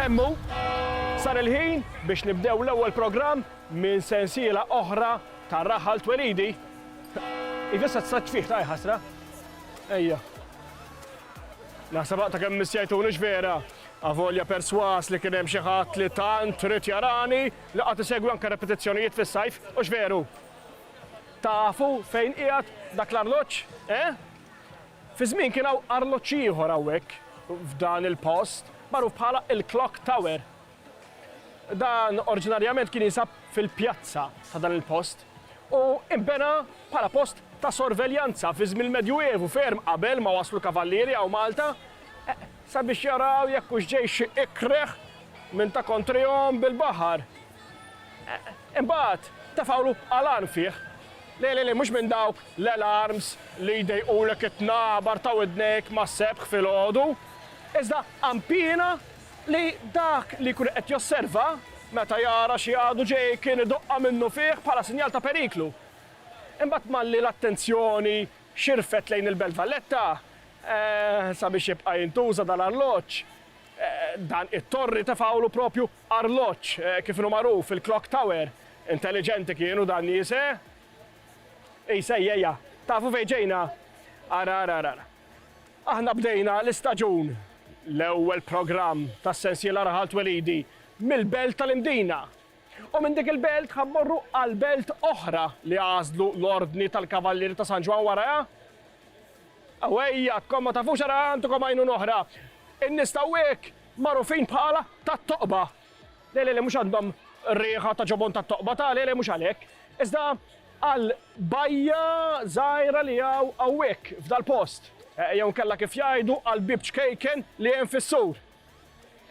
Hemm hu, sar il-ħin biex nibdew l-ewwel programm minn sensiela oħra ta' Raħal Twelidi. Iva issa t-saġġ fih, ta' ħasra. Ejja. Naħseb aqta' kemm missjajtuni x'vera, avolja persważ li kien hemm xi ħadd li tant ried jarani li qatt isegwi anke repetizzjonijiet fis-sajf, hux veru? Tafu fejn qiegħed dak l-arloġġ, eh? Fi żmien kien hawn arloġġ ieħor hawnhekk f'dan il-post magħruf bħala il-Clock Tower. Dan orġinarjament kien jinsab fil-pjazza ta' dan il-post u nbena bħala post ta' sorveljanza fi żmien il-Medjuevu ferm qabel ma waslu l-kavallieri hawn Malta sabiex jaraw jekk hux ġej xi ikreh minn ta' kontrihom bil-baħar. Imbagħad tefgħulu għalan fih. Le, le, le, mhux minn dawk l-alarms li jdejqulek it-tnabar ta' widnejk mas-sebħ filgħodu, iżda għan piena Li dak li jkun qed josserva, meta jara xi għadu ġej, kien idoqqha minnufih bħala sinjal ta' periklu. Imbagħad malli l-attenzjoni xirfet lejn il-Belt Valletta, sabiex jibqa' jintuża dal-arloġġ, dan it-torri tefgħulu proprju arloġġ, kif inhu magħruf, il-clock tower. Intelliġenti kienu dan nies, eh? Ejsa, ejja, ejja, tafu fejn ġejna? Ara, ara, ara, ara. Aħna bdejna l-istaġun, l-ewwel programm tas-sensiela Raħal Twelidi, mill-Belt tal-Imdina. U minn dik il-Belt ħa mmorru għal Belt oħra li għażlu l-Ordni tal-Kavallieri ta' San Ġwann warajha. Awejja, tkun ma tafux ara għandkom għajnuna oħra. In-nies t'hawnhekk magħrufin bħala tat-toqba. Le, le, le, mhux għandhom riħa ta' ġobon tat-toqba ta', le, le, mhux għalhekk. Iżda għal bajja żgħira li hawn hawnhekk, f'dal-post. Jew inkella kif jgħidu, għall-bieb ċkejken li hemm fis-sur.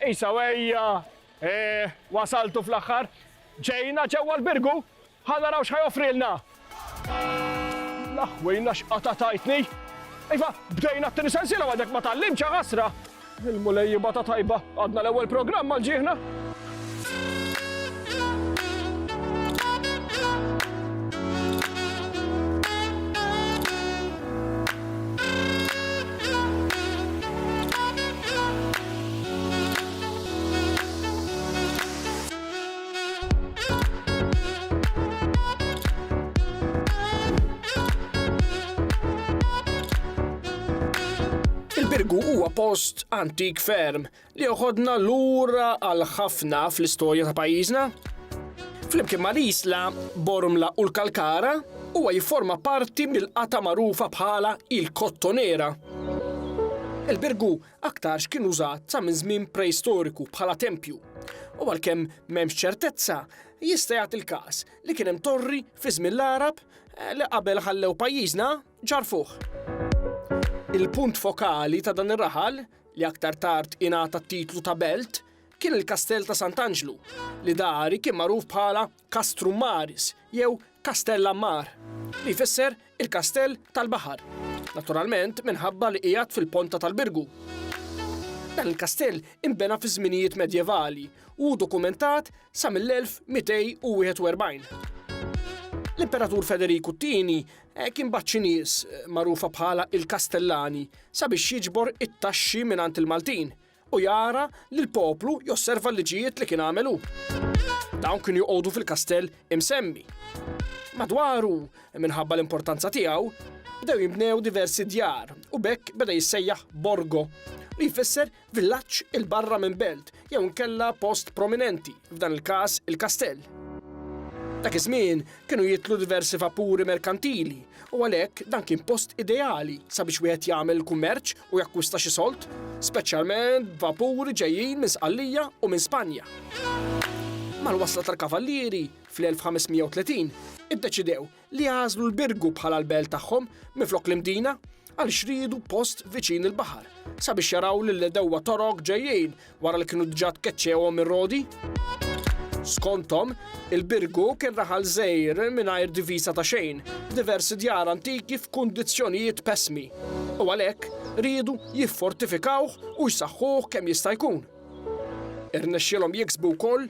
Isa, ejja, eeh, wasaltu fl-aħħar. Ġejna ġewwa l-birgu! Ħa naraw x'ħa joffrilna! L-aħwejna x'qatgħa tajtni! Iva, bdejna t-tieni sensiela u għadek ma tgħallimtx, a ħasra! Il-Mulej jibgħatha tajba, għadna l-ewwel programm għal ġieħna! Birgu huwa post antik ferm li joħodna lura għal ħafna fl-istorja ta' pajjiżna. Flimkien ma' l-isla, Bormla u l-Kalkara huwa jifforma parti mill-qata magħrufa bħala il-Kottonera. Il-Birgu aktarx kien użat sa minn żmien preistoriku bħala tempju, u għalkemm m'hemmx ċertezza, jista' jagħti l-każ li kien hemm torri fi żmien l-Għarab li qabel ħallew pajjiżna ġarrfuh. Il-punt fokali ta' dan ir-raħal, li aktar tard ingħata t-titlu ta' belt, kien il-Kastell ta' Sant'Anġlu, li dari kien magħruf bħala Castrum Maris jew Kastell Ammar, li jfisser il-kastell tal-baħar, naturalment minħabba li qiegħed fil-ponta tal-Birgu. Dan il-kastell inbena fiż-żminijiet medjevali u hu dokumentat sa mill-1241. L-Imperatur Federiku t-Tieni kien bagħat xi nies, magħrufa bħala il-Kastellani, sabiex jiġbor it-taxxi mingħand il-Maltin, u jara li l-poplu josserva l-liġijiet li kien għamel hu. Dawn kienu joqogħdu fil-kastell imsemmi. Madwaru, minħabba l-importanza tiegħu, bdew jinbnew diversi djar u b'hekk beda jissejjaħ borgo, li jfisser villaġġ il-barra minn belt jew inkella post prominenti, f'dan il-każ il-kastell. Dak iż-żmien Kienu jidħlu diversi vapuri merkantili u għalhekk dan kien post ideali sabiex wieħed jagħmel kummerċ u jakkwista xi sold, speċjalment vapuri ġejjin minn Sqallija u minn Spanja. Mal-wasla tal-Kavallieri fl-1530, iddeċidew li jagħżlu l-Birgu bħala l-belt tagħhom minflok l-Imdina għal xriedu post viċin il-baħar sabiex jaraw lill-edewwa Torok ġejjin wara li kienu diġà tkeċċewhom ir-Rodi. Skonthom, il-Birgu kien raħal żgħir mingħajr divisa ta' xejn, diversi djar antiki f'kundizzjonijiet pesmi, u għalhekk riedu jiffortifikawh u jsaħħuh kemm jista' jkun. Irnexxielhom jiksbu wkoll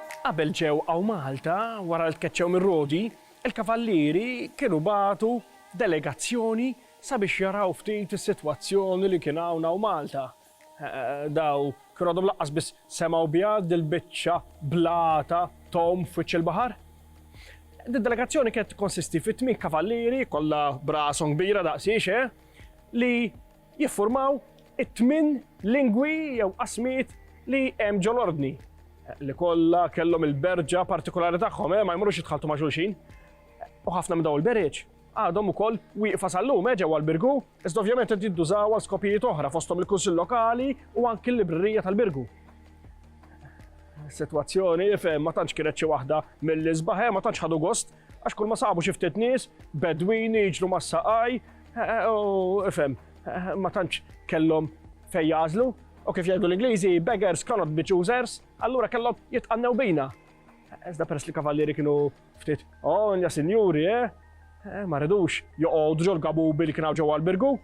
Qabel ġew hawn Malta, wara li tkeċċew mir-Rodi, il-Kavallieri kienu bagħtu delegazzjoni sabiex jaraw ftit is-sitwazzjoni li kien hawn hawn Malta. Daw kienu għadhom lanqas biss semgħu biha dil-biċċa blata tgħum f'wiċċ il-baħar. Did-delegazzjoni kienet tikkonsisti fi tmien kavallieri, kollha b'rashom kbira daqsiex, eh, li jiffurmaw it-tmien lingwi jew qasmijiet li hemm ġol-Ordni, li kollha kellhom il-berġa partikulari tagħhom, ma jmorrux jitħalltu ma' xulxin. U ħafna minn dawn il-berieġ għadhom ukoll wieqfa sal-lum eh, ġewwa l-Birgu, iżda ovvjament qed jiddużaw għal skopijiet oħra fosthom il-Kunsill Lokali u anki l-Librerija tal-Birgu. Sitwazzjoni fejn ma tantx kienet xi waħda mill-isbaħ, eh, ma tantx ħadu gost Għax kull ma sabu xi ftit nies, bedwin jiġru mas-saqaj, eh, eh, u ifhem, eh, ma tantx kellhom fejn jażlu, u kif jgħidu l-Ingliżi, beggars cannot be choosers, allura kellhom jitqannew bina. Iżda peress li kavallieri kienu ftit, oh, nja sinjuri, eh? Ma rridux joqogħdu ġol gabubi li kienaw ġewwa l-birgu,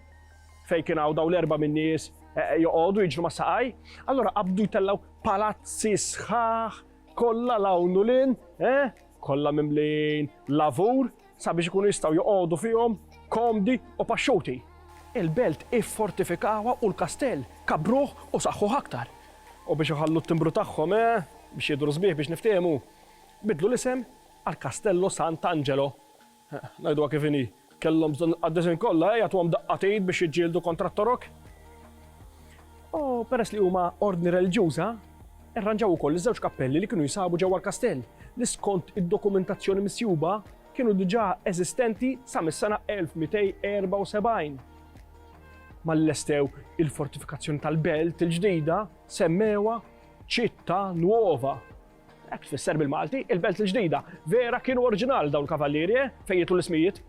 fej kienaw daw l-erba' minn nies joqogħdu jiġru ma' saqaj, allura qabdu jtellaw palazzi sħaħ kollha lawnu lin, eh? kollha mimlin lavur sabiex ikunu jistgħu joqogħdu fihom komdi u paxxuti. Il-belt iffortifikawha u l-kastell kabbruh u saħħuh aktar. U biex iħallu t-timbru tagħhom, eh, biex jidhru sbieħ biex niftiehmu, biddlu l-isem għal Castello Sant'Angelo. Ngħiduha kif inhi, kellhom bżonn il-qaddisin kollha jagħtuhom daqqatin biex jiġġieldu kontra t-Torok. U peress li huma ordni reliġjuża, irranġaw ukoll iż-żewġ kappelli li kienu jinsabu ġewwa l-kastell, li skont id-dokumentazzjoni misjuba kienu diġà eżistenti sa mis-sena 1274. Malli lestew il-fortifikazzjoni tal-belt il-ġdida, semmewha Città Nuova. Hekk tfisser bil-Malti, il-Belt il-Ġdida. Vera kienu orġinal dawn il-kavallieri, eh? Fejn jitlu l-ismijiet?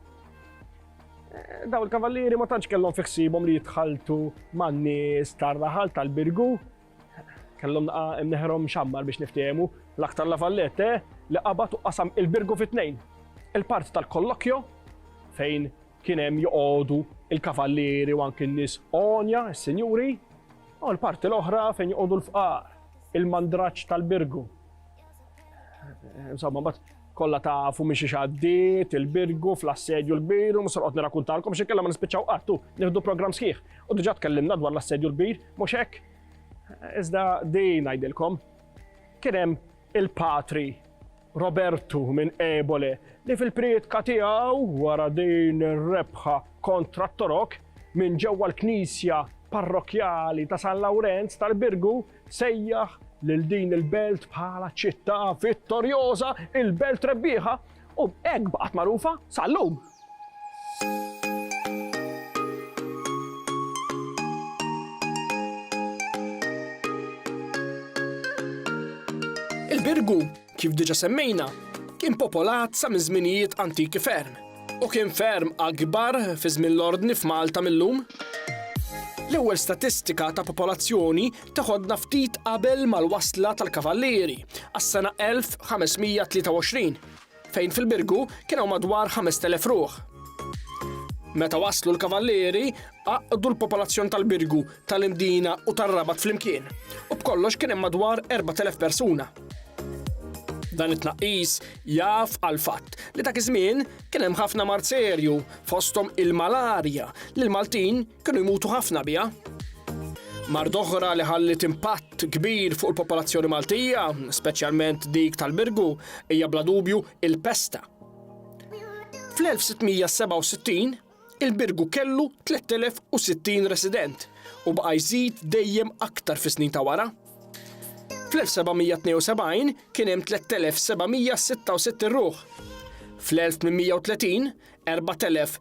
Eh, dawn il-kavallieri ma tantx kellhom fi ħsibhom li jitħaltu man-nies tar-raħal tal-Birgu. Kellhom naqa' imneħrhom xammar biex niftehmu l-aktar la fallette eh? li qabad u qasam il-Birgu fit-tnejn. Il-part tal-kollokjo fejn Kien hemm joqogħdu l-kavallieri u anki n-nies għonja, is-sinjuri, u l-parti l-oħra fejn joqogħdu l-fqar, il-mandraġġ tal-birgu. Insomma, bat kollha tafu minn xi xaddiet, il-birgu, fl-assedju l-kbir, u musorqod nirakuntalkom xi kellha ma nispiċċaw qattu, nieħdu programm sħiħ. U diġà tkellimna dwar l-assedju l-kbir, mhux hekk. Iżda din ngħidilkom, kien hemm il-patri Robertu minn Ebole li fil-prietka tiegħu wara din ir-rebħa kontra t-Torok minn ġewwa l-Knisja Parrokkjali ta' San Lawrenz tal-Birgu sejjaħ lil din il-belt bħala ċittà vittorjoża, il-belt rebbieħa u b'hekk baqgħet magħrufa sal-lum. Il-Birgu, kif diġa semmejna, kien popolat sa minn żminijiet antiki ferm u kien ferm akbar fi żmien l-ordni f'Malta millum. L-ewwel statistika ta' popolazzjoni teħodna ftit qabel mal-wasla tal-Kavallieri għas-sena 1523 fejn fil-Birgu kien hawn madwar 5,000 ruħ. Meta waslu l-Kavallieri, għaqqdu l-popolazzjoni tal-Birgu, tal-Imdina u tar-Rabat flimkien, u b'kollox kien hemm madwar 4,000 persuna. Dan it-tnaqqis jaf għal fatt li dak iż-żmien kien hemm ħafna mard serju, fosthom il-malarja, li l-Maltin Kienu jmutu ħafna biha. Mard oħra li ħalliet impatt kbir fuq il-popolazzjoni Maltija, speċjalment dik tal-Birgu, hija bla dubju il-pesta. Fl-1667, il-Birgu kellu 3060 resident u baqa' jżid dejjem aktar fis-snin ta' wara. Fl-1772 kien hemm 3766 ruħ. Fl-1830, 4000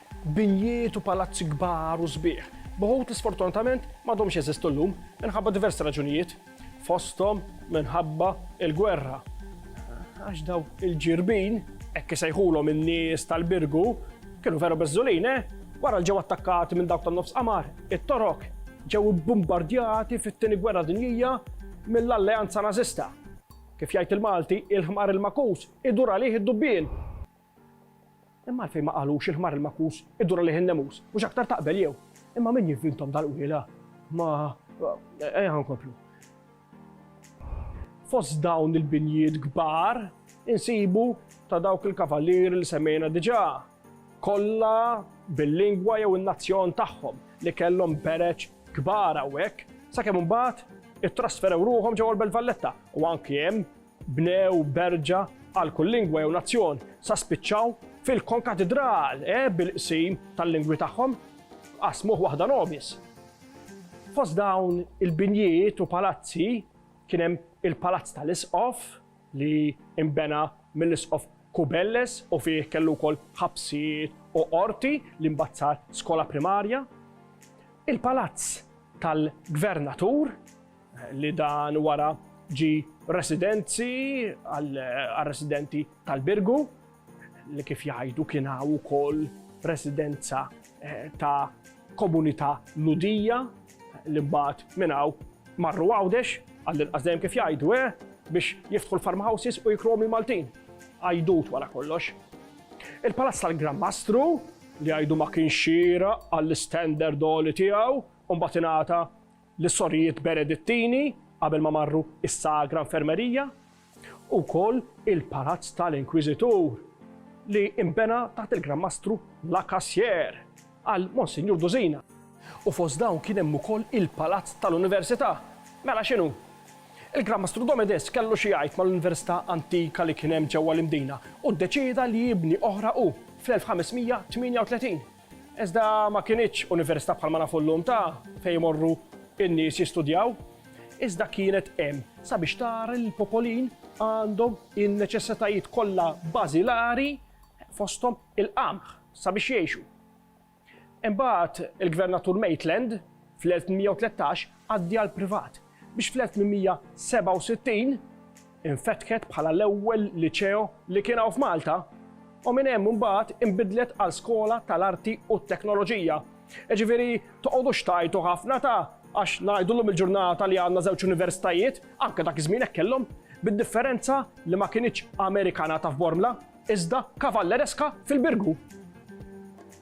Binjiet u palazzi kbar u sbieħ, b'uħud li sfortunatament m'għadhomx jeżistu llum minħabba diversi raġunijiet, fosthom minħabba l-gwerra. Għax dawk il-ġirbin, hekk isejħulhom in-nies tal-Birgu, kienu veru beżżulin, eh! Wara li ġew attakkati minn dawk tan-Nofs Qamar, it-Torok ġew ibbumbardjati fit-Tieni Gwerra Dinjija mill-Alleanza Nażista. Kif jgħid il-Malti, il-ħmar il-makus idur għalih id-dubbien. Imma għalfejn ma qalux il-ħmar il-makkus idur għalih in-nemus, mhux aktar taqbel jew? Imma min jivvintom dal-qwiela? Ma ejja nkomplu. Fost dawn il-binjiet kbar insibu ta' dawk il-kavallieri li semmejna diġà, kollha bil-lingwa jew in-nazzjon tagħhom li kellhom bereġ kbar hawnhekk, sakemm imbagħad ittrasferew ruħhom ġewwa l-Belt Valletta u anki hemm Bnew berġa għal kull lingwa jew nazzjon sa spiċċaw fil-konkatidral, eh, bil-qsim tal-lingwi tagħhom, qasmuh waħda nobis. Fost dawn il-binjiet u palazzi kien hemm il-Palazz tal-Isqof li imbena mill-Isqof Kubelles u fih kellu wkoll ħabsiet u qorti li mbagħad sar skola primarja. Il-Palazz tal-Gvernatur li dan wara ġie residenzi għar-residenti tal-Birgu, li kif jgħidu kien hawn ukoll residenza ta' komunità Lhudija li mbagħad minn hawn marru Għawdex, għall-inqas dejjem kif jgħidu, biex jiftħu l-farmhouses u jikruhom il-Maltin. Għajdut wara kollox. Il-Palazz tal-Gran Mastru, li jgħidu ma kienx xieraq għall-istandard għoli tiegħu, u mbagħad ingħata lis-sorijiet Benedittini qabel ma marru s-Sagra Infermerija, u wkoll il-Palazz tal-Inkwiżitur li nbena taħt il-Gran Mastru La Cassière għal Monsinjur Dusina. U fost dawn kien hemm ukoll il-Palazz tal-Università. Mela x'inhu? Il-Gran Mastru Domedes kellu xi jgħid mal-Università antika li kien hemm ġewwa l-Imdina u ddeċieda li jibni oħra hu fl-1538. Iżda ma kinitx università bħalma nafu llum ta' fejn imorru n-nies jistudjaw, iżda kienet hemm sabiex tara li l-popolin għandhom in-neċessitajiet kollha bażilari fosthom il-qamħ sabiex jgħixu. Imbagħad il-Gvernatur Maitland fl-1813 għaddi għall-privat biex fl-1867 infetħet bħala l-ewwel liċeo li kien hawn f'Malta u minn hemm imbagħad inbidlet għal skola tal-arti u t-teknoloġija. Jiġifieri toqgħodux tgħajtu ħafna ta' għax ngħidu llum il-ġurnata li għandna żewġ universitajiet, anke dak iż-żmien hekk kellhom, bid-differenza li ma kinitx Amerikana ta' f'Bormla, iżda Cavalleresca fil-Birgu.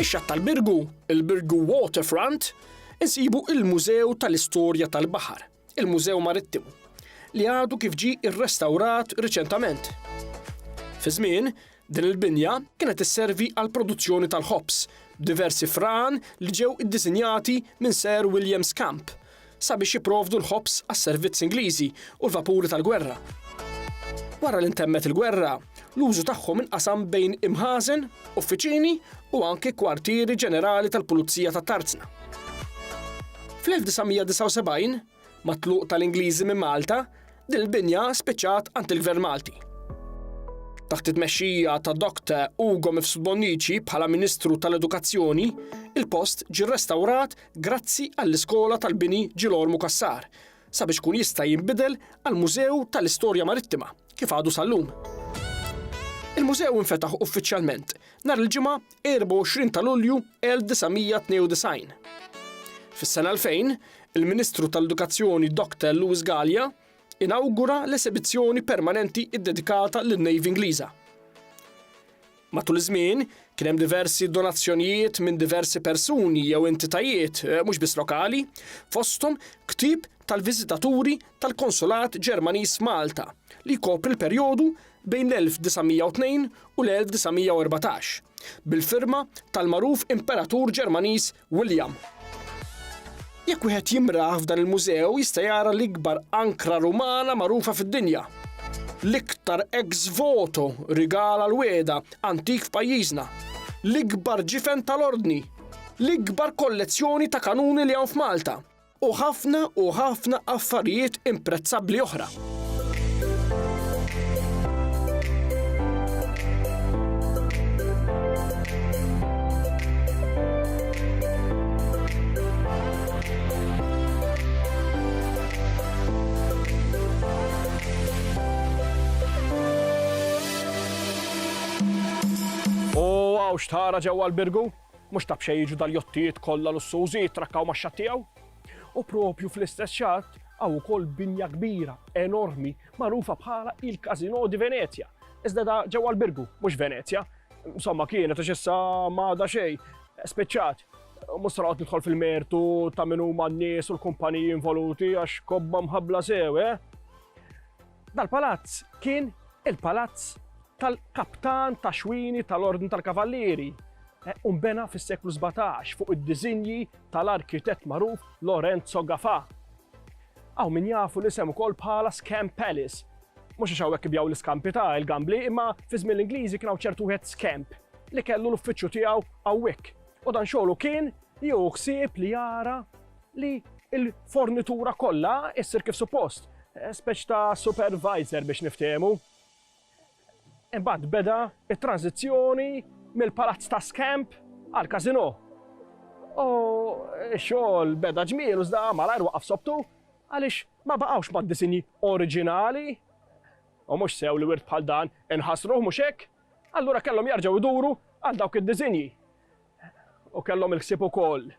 Fix-xatt tal-Birgu, il-Birgu Waterfront, insibu il-Mużew tal-Istorja tal-Baħar, il-Mużew Marittimu, li għadu kif ġie rrestawrat riċentament. Fi żmien, din il-binja kienet isservi għall-produzzjoni tal-ħobż, b'diversi fran li ġew iddisinjati minn Sir William Scamp sabiex jipprovdu l-ħobż għas-servizz Ingliżi u l-vapuri tal-gwerra. Wara li ntemmet il-gwerra, L-użu tagħhom inqasam bejn imħażen, uffiċini u anki kwartieri ġenerali tal-Pulizija ta' Tarzna. Fl-1979, mat-tluq tal-Ingliżi minn Malta, din il-binja spiċċat għand il-Gvern Malti. Taħt it-tmexxija ta' Dr. Ugo Mifsud Bonnici bħala Ministru tal-Edukazzjoni, il-post ġie rrestawrat grazzi għall-Iskola tal-Bini Ġilormu Cassar sabiex ikun jista' jinbidel għal Mużew tal-Istorja Marittima, kif għadu sal-lum. Il-mużew infetaħ uffiċjalment nhar il-Ġimgħa 24 ta' Lulju 1992. Fis-sena 2000, il-Ministru tal-Edukazzjoni Dr. Louis Gallia inawgura l-esebizzjoni permanenti ddedikata lin-Navy Ingliża. Matul iż-żmien, kien hemm diversi donazzjonijiet minn diversi persuni jew entitajiet mhux biss lokali, fosthom ktieb tal-viżitaturi tal-Konsulat Ġermaniż f'Malta li jkopri l-perjodu bejn l-1902 u l-1914, bil-firma tal-magħruf Imperatur Ġermaniż William. Jekk wieħed jimraħ f'dan il-mużew jista' jara l-ikbar ankra Rumana magħrufa fid-dinja. L-iktar ex voto rigal għal wegħda antik f'pajjiżna. L-ikbar ġifen tal-Ordni. L-ikbar kollezzjoni ta' kanuni li hawn f'Malta. u ħafna u ħafna affarijiet imprezzabbli oħra. Waww x'tara ġewwa l-Birgu! Mhux ta' b'xejn jiġu dal-jottijiet kollha lussużi jittrakkaw max-xatt tiegħu. U proprju fl-istess xatt hawn ukoll binja kbira, enormi, magħrufa bħala il-Casino di Venezia. Iżda da ġewwa l-Birgu, mhux Venezia. Insomma, kienet għax issa ma għadha xejn. Spiċċat. Mhux se noqgħod nidħol fil-mertu ta' min huma n-nies u l-kumpaniji involuti għax kobba mħabbla sew, eh? Dal-palazz kien il-palazz tal-kaptan ta' xwini tal-Ordni tal-Kavallieri eh, u nbena fis-seklu 17 fuq id-diżinji tal-arkitett magħruf Lorenzo Gafa. Aw min jafu l-isem ukoll bħala Scam Palace. Mhux għax hawnhekk ibjaw l-iskampi ta' il-gambli, imma fi żmien l-Ingliżi kien hawn ċertu wieħed Scamp li kellu l-uffiċċju tiegħu hawnhekk. U dan xogħlu kien jew ħsieb li jara li l-fornitura kollha issir kif suppost, speċ ta' supervisor biex niftehmu. Imbagħad beda it-tranżizzjoni mill-palazz ta' Scamp għal Casino. U x-xogħol beda ġmiel u żda malajr waqaf sobtu għaliex ma baqgħux mad-disinji oriġinali u mhux sew li wirt bħal dan inħasruh mhux hekk, allura kellhom jarġgħu jduru għal dawk id-disinji. U kellhom il-ħsieb ukoll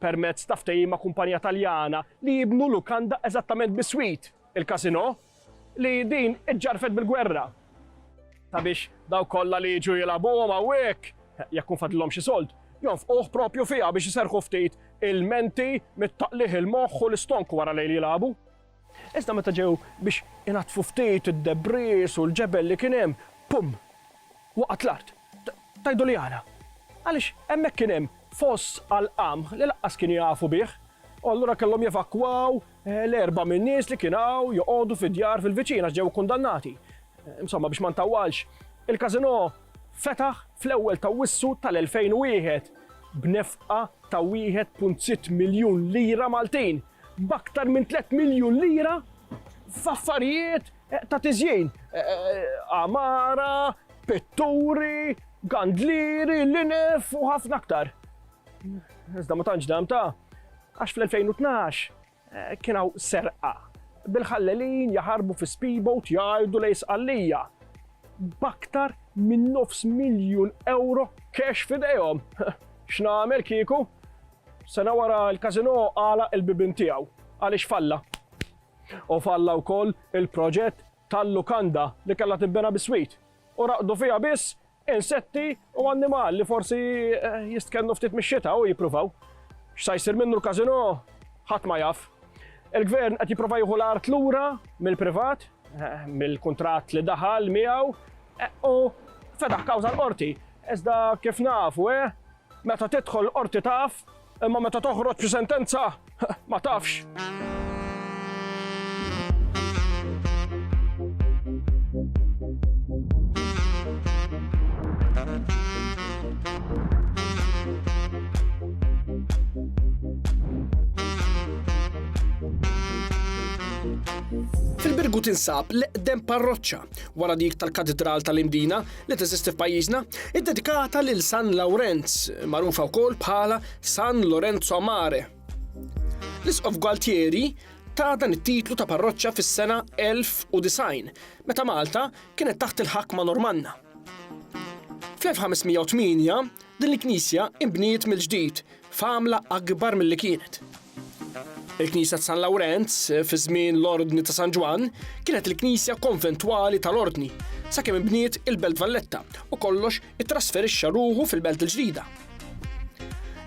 permezz ta' ftehim ma' kumpanija Taljana, li jibnu lukanda eżattament biswit il-Casino, li din iġġarfet bil-gwerra. Sabiex dawk kollha li jiġu jilagħbuhom hawnhekk, jekk hu fadlilhom xi sold, jonfquh proprju fiha biex iserrħu ftit il-menti mit-taqligħ il-moħħ u l-istonk wara lejl jilagħbu. Iżda meta ġew biex inaddfu ftit id-debris u l-ġebel li kien hemm, pum! Waqgħet l-art. Tgħidu li għala? Għaliex hemmhekk kien hemm foss għall-qamħ li lanqas kienu jafu bih, u allura kellhom jevakwaw l-erbgħa min-nies li kienu joqogħdu fid-djar fil-viċin għax ġew ikkundannati. Insomma, biex ma ntawwalx, il-każinò fetaħ fl-ewwel ta' Awwissu tal-2001 b'nefqa ta' 1.6 miljun lira Maltin. b'aktar minn tliet miljun lira f'affarijiet ta' tiżjin, għamara, pitturi, gandlieri, linef u ħafna aktar. Iżda ma tantx dam ta' għax fl-2012 kien hawn serqa bil-ħallelin jaħarbu fi speedboat jgħidu lejn Sqallija b'aktar minn nofs miljun ewro cash f'idejhom. X'nagħmel kieku? Sena wara l-Casino għalaq il-bibien tiegħu għaliex falla. U falla wkoll il-proġett tal-lukanda li kellha tinbena biswit u raqdu fiha biss insetti u annimal li forsi eh, jistkennu ftit mix-xita u jippruvaw. X'sa jsir minnu l-Casino ħadd ma jaf. Il-gvern qed jipprova jieħu l-art lura mill-privat, eh, mill-kuntratt li daħal miegħu eh, u fedaħ kawża l-qorti. Iżda kif nafu, eh, Meta tidħol l-qorti taf, imma meta toħroġ bi sentenza ma tafx. Fil-Birgu tinsab l-eqdem parroċċa wara dik tal-Katidral tal-Imdina li teżisti f'pajjiżna, iddedikata lil San Lawrenz, magħrufa wkoll bħala San Lorenzo Mare. L-Isqof Gualtieri ta' dan it-titlu ta' parroċċa fis-sena 1090, meta Malta kienet taħt il-ħakma Normanna. Fl-1508 din il-knisja inbniet mill-ġdid f'għamla akbar milli kienet. Il-Knisja ta' San Lawrenz, fi żmien l-Ordni ta' San Ġwann, kienet il-knisja konventwali tal-Ordni, sakemm inbniet il-Belt Valletta u kollox ittrasferixxa ruħu fil-Belt il-Ġdida.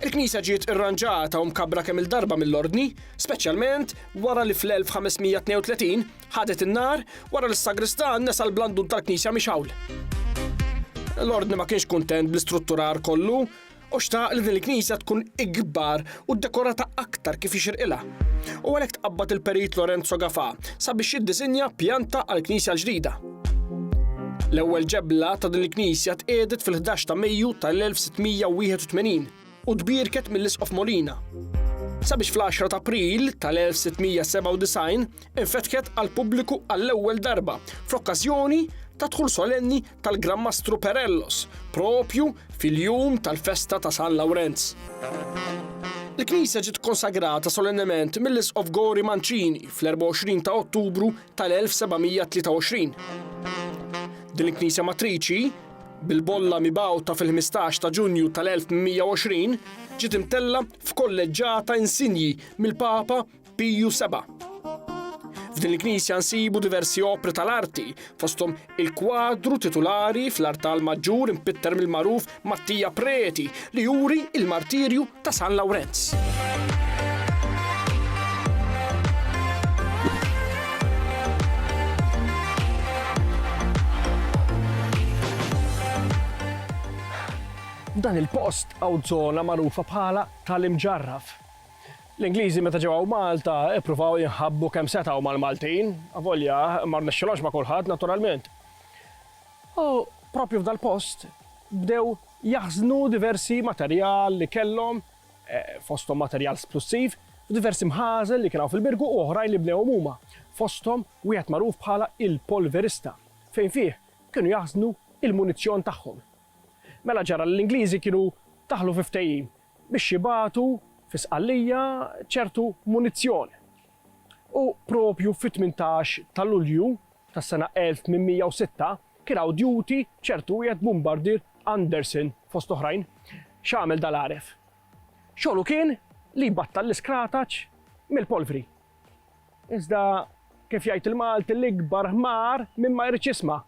Il-knisja ġiet irranġata u mkabbra kemm-il darba mill-Ordni, speċjalment wara li fl-1532 ħadet in-nar wara li s-sagristan nesa l-blandun tal-knisja mixgħul. L-Ordni ma kienx kuntent bl-istrutturar kollu, U xtaq li din il-knisja tkun ikbar u ddekorata aktar kif jixirqilha. U għalhekk tqabbad il-Perit Lorenzo Gafà sabiex jiddisinja pjanta għall-knisja l-ġdida. L-ewwel ġebla ta' din il-knisja tqiegħdet fil-ħdax ta' Mejju tal-1681 u tbierket mill-Isqof Molina, sabiex fl-għaxra ta' April tal-1697 infetħet għall-pubbliku għall-ewwel darba fl-okkażjoni tad-dħul solenni tal-Gran Mastru Perellos, propju fil-jum tal-festa ta' San Lawrenz. Il-knisja ġiet konsagrata solennement mill-Isqof Gori Mancini fl-24 ta' Ottubru tal-1723. Din il-knisja matriċi, bil-bolla mibgħuta fil-15 ta' Ġunju tal-1120, ġiet imtella f'kolleġġata insinji mill-Papa Piju seba'. F'din il-knisja nsibu diversi opri tal-arti, fosthom il-kwadru titulari fl-artal maġġur impitter mill-magħruf Mattia Preti li juri il-martirju ta' San Lawrenz. F'dan il-post hawn żona magħrufa bħala tal-Imġarraf. L-Ingliżi meta ġew hawn Malta ippruvaw jinħabbu kemm setgħu mal-Maltin, avolja ma rnexxilhomx ma' kulħadd naturalment. U proprju f'dal-post bdew jaħżnu diversi materjal li kellhom, fosthom materjal splussiv, f'diversi mħażen li kien hawn fil-Birgu u oħrajn li bnewhom huma, fosthom wieħed magħruf bħala il-Polverista, fejn fih kienu jaħżnu l-munizzjon tagħhom. Mela ġara li l-Ingliżi kienu daħlu fi ftehim biex jibagħtu fi Sqallija ċertu munizzjon u proprju fit-tmintax ta' Lulju tas-sena 1806 kien hawn duty b'ċertu wieħed Bumbardier Anderson fost oħrajn. X'għamel dal-għaref? Xogħlu kien li jbattal l-iskrataċ mill-polvri. Iżda kif jgħid il-Malti l-ikbar ħmar min ma jridx jisma'.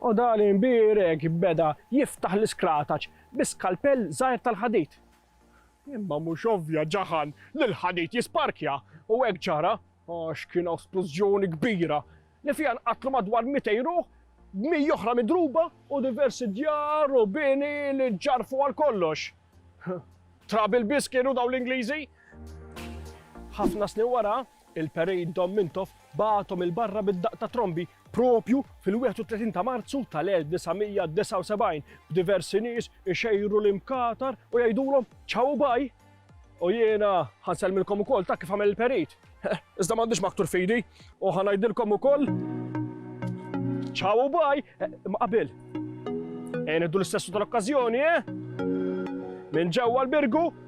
U Dali mbierek beda jiftaħ l-iskrataċ bi skalpell żgħir tal-ħadid. Imma mhux ovvja ġaħan li l-ħadid jisparkja u hekk ġara għax kien hawn splużjoni kbira li fiha nqatlu madwar mitej ruħ b'miji oħra midruba u diversi djar u bini li ġġarfu għal kollox. Trabil biss kienu dawn l-Ingliżi. Ħafna snin wara, Il-Parade Dom Mintoff bagħathom 'il barra bid-daqq ta' trombi proprju fil-31 ta' Marzu tal-1979 b'diversi nies ixejru l-imkatar u jgħidulhom Ciao u Bye! U jiena ħa nsellmilkom ukoll ta' kif għamel il-Parade. Iżda m'għandix maktur f'idi u ħa ngħidilkom ukoll Ciao u Bye! Imma qabel, ejja nieħdu l-istessu tal-okkażjoni, eh? Minn ġewwa l-Birgu